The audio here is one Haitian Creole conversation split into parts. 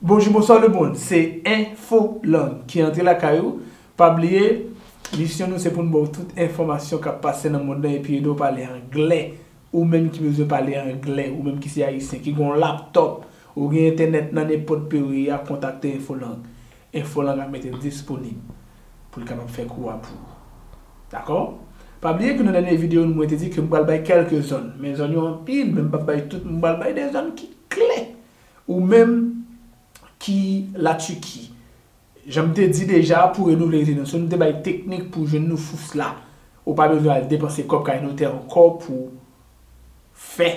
Bonjou bonswa le mond se enfo lang ki antre lakay ou pa bliye misyon nou se poun baw tout enfòmasyon kap pase nan mond lan epi edew pale anglè ou menm ki bezwen pale anglè ou menm ki se ayisyen ki gen yon laptop ou gen entènèt nan nenpòt pew ye a kontakte enfo lang. Info lan ap mete disponib pou l kapab fè kou a pou ou. Dakò? Pa bliye ke nan dènye video nou mwen te di ke m pral bay kèlke zòn, men zòn yo anpil men m pap bay tout, m pral bay 2 zòn ki kle. Ou menm ki la Turquie, jan m te di deja pou renouvle rezidansyon nou te bay teknik pou jwenn nou fous la. Ou pa bezwen al depanse kòb kay notè ankò pou fè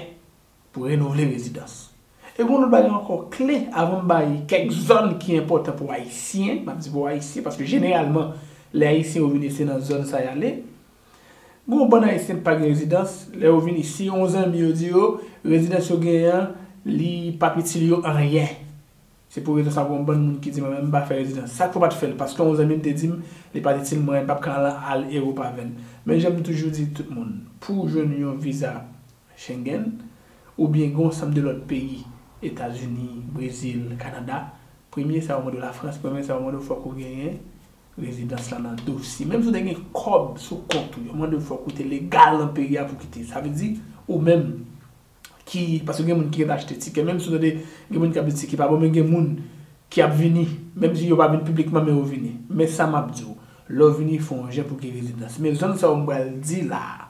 Pou renouvle rezidans. E gon lòt bagay ankò kle avan m bay kèk zòn ki enpòtan pou ayisyen, map di pou ayisyen paske jeneralman lè ayisyen yo vini se nan zòn sa yale. Gon bann ayisyen ki pa gen rezidans, lè yo vini si yon zanmi yo di yo rezidans yo genyen an li pap itil yo anyen. Se pou rezon sa gon bann moun ki di mwen menm m pa fè rezidans. Sak fè w pat fèl? Paske yon zanmi m te di m li pat itil mwen, m pap ka al Europe avèl. Men jan m toujou di tout moun, pou w jwenn yon viza. Schengen, oubyen gen yon sanm de lòt peyi, Etazini, Brezil, Kanada, premye sa yo mande w Lafrans, premye sa yo mande w fòk ou genyen rezidans la nan dosye. Menm si w te gen kòb sou kont ou, yo mande w fòk ou te legal nan peyi a pou w kite. Sa vle di, ou menm ki, paske gen moun ki ret achte tikè, menm si w tande gen moun k ap di tikè pa bon, men gen moun ki ap vini, menm si yo pa vin piblikman men yo vini. Men sa m ap di w, lè w vini fè yon jan pou w gen rezidans. Men zòn sa yo m pral di la a,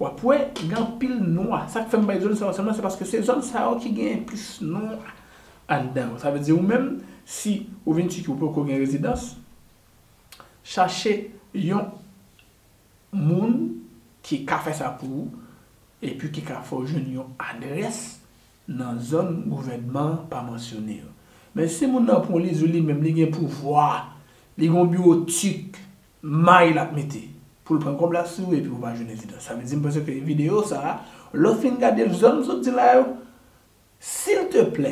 Wap wè gen anpil nwa. Sak fèm bay zòn sa yo sèlman se paske se zòn sa yo ki genyen plis nwa anndan yo. Sa vle di ou menm si ou vin Turquie ou poko gen rezidans, chache yon moun ki ka fè sa pou ou epi ki ka fè ou jwenn yon adrès nan zòn gouvènman an pa mansyone yo. Men si moun nan pran li di ou li menm li gen pouvwa, li gen yon biwo turque May lap mete Poul pran kob la sou ou epi ou pa jwenn evidans sa vle dim panse ke video sa lèw fin gadel zòn m sot di la yo sil te plè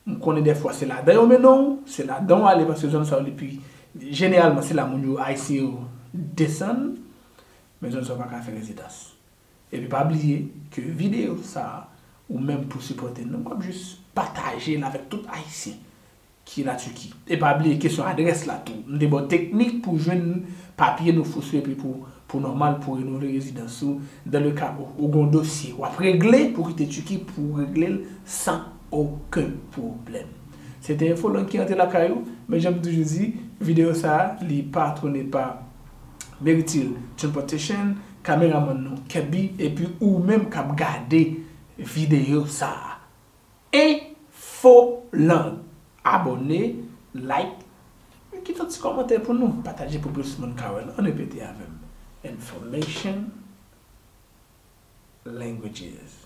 m konnen dèfwa se ladan yo mennen w se ladan w ale paske zòn sa yo li pi jeneralman se la moun yo ayisyen yo desann men zòn sa yo paka fè rezidans epi pa bliye ke video sa ou menm pou sipòte nou wap jis patajel avèk tout ayisyen ki la Turquie. E pa bliye kesyon adrès la tou. M te ba w teknik pou jwenn papye nou fouso epi pou pou nòmal pou renouvle rezidans ou dans le cas ou ou gen yon dosye w ap regle pou w kite Turquie pou w regle l san oken pwoblèm. Se te enfo lang ki rantre lakay ou, men jan m toujou di, videyo sa a li patwone pa Meritil Transportation, kameramann nou Kebby epi ou menm k ap gade videyo sa a. Info Lang Abòne, like, e kite yon ti kòmantè pou nou. Pataje pou plis moun ka wè l. Ann repete avè m, Information Languages.